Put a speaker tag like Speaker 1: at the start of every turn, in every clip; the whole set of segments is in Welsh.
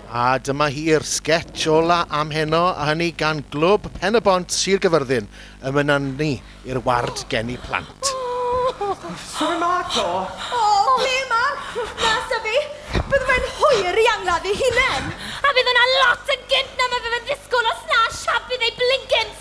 Speaker 1: A dyma hi'r sgets ola am heno, a hynny gan Glwb Pen-y-bont Sir Gyfyrddin yn fy nynu i'r ward geni plant.
Speaker 2: Sori Marco! O, ble
Speaker 3: Marc? Na, Syfi, bydde fe'n hwyr i angladd ei hunen! A fydd yna lot yn gynt na mae fe fe'n ddisgwl os na siap bydd ei blincin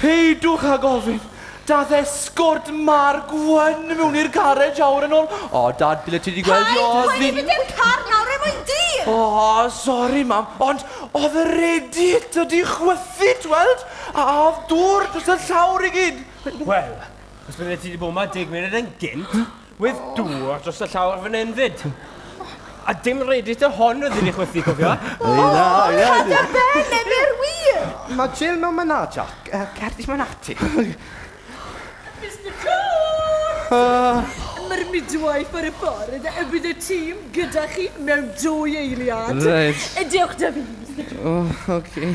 Speaker 2: Peidiwch
Speaker 4: â gofyn! Dath esgort Mark Wen mewn i'r garej awr yn ôl. O, Dad, byddet ti wedi gweld i Ozzy. Paid mynd i'r car
Speaker 3: nawr, er mwyn di! O, sori,
Speaker 4: Mam, ond oedd y radiator di chwythu, tweld? A oedd dŵr dros y llawr i gyd. Wel,
Speaker 5: os byddet ti wedi bod yma deg munud yn gynt, With oh. dŵr dros y llawr fan hyn fyd. A dim reddit o hon oedd wedi chwythu, cofio? O, cad ar
Speaker 3: ben, yn yr wir! Mae Jill mewn myna,
Speaker 2: Jack. Uh, Cerdis mewn ati. Mr
Speaker 6: Cole! Uh, Mae'r midwife ar y ffordd, y bydd y tîm gyda chi mewn dwy eiliad. Reit. Diolch
Speaker 4: da fi, Mr Cole.
Speaker 6: Oh, oce. Okay.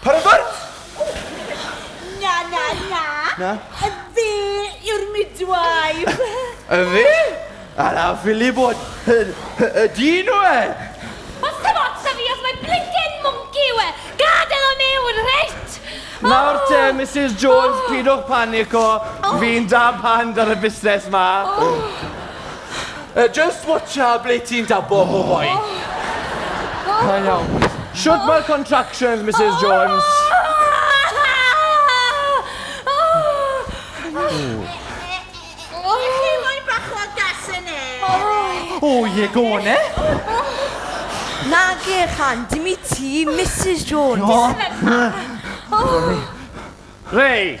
Speaker 4: Paragorn! Na, na,
Speaker 6: na. Na? Y fe yw'r midwife. Y fe?
Speaker 4: A na ffili bod yn y dyn o e! Os ti'n
Speaker 3: ots o fi os mae blinkin mwnci yw e, gadael o mewn, reit? Nawr oh. te,
Speaker 4: Mrs Jones, oh. pidwch panico, oh. fi'n da pan ar y busnes ma. Oh. Uh, just watcha ble ti'n dabo, oh. oh boy. Da iawn. Shwt mae'r contractions, Mrs Jones?
Speaker 6: O ie,
Speaker 4: go on e.
Speaker 3: Nage, chan, dim i ti, Mrs Jones.
Speaker 4: Reit.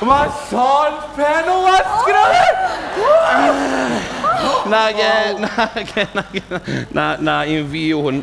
Speaker 4: Mae llond pen o waith gyda fi! Na, ge, na, ge, na, ge, na, na, na, un fi yw
Speaker 6: hwn.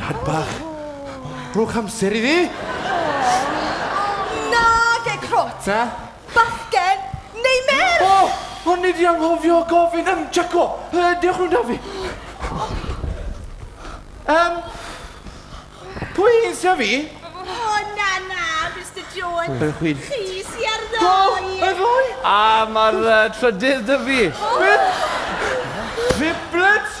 Speaker 4: Dad bach. Rhowch amser i fi!
Speaker 3: Nage, crot! Be?
Speaker 4: Bachgen
Speaker 3: neu merch? O! O'n i di
Speaker 4: anghofio gofyn am Jaco! Yy, dewch mewn da fi. Yym, pwy sy â fi? O, na,
Speaker 6: na, Mister Jones. Pwy chwi? Chi sy
Speaker 4: ar
Speaker 6: ddoi! Ar ddoi? A
Speaker 4: mae'r uh, trydydd dy fi. Beth? Triplets?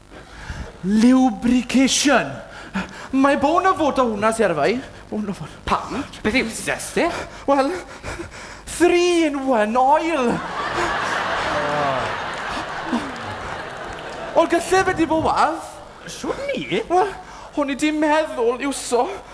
Speaker 4: Lubrication! Mae bôn yn fod o hwnna, ti ar y fai. Bôn yn fod. Pam? Beth yw stres ti? Wel, three in one oil!
Speaker 5: Wel, gallai
Speaker 4: fe di bod wath. Shwt
Speaker 5: ni?
Speaker 4: Wel, o'n i di meddwl iwso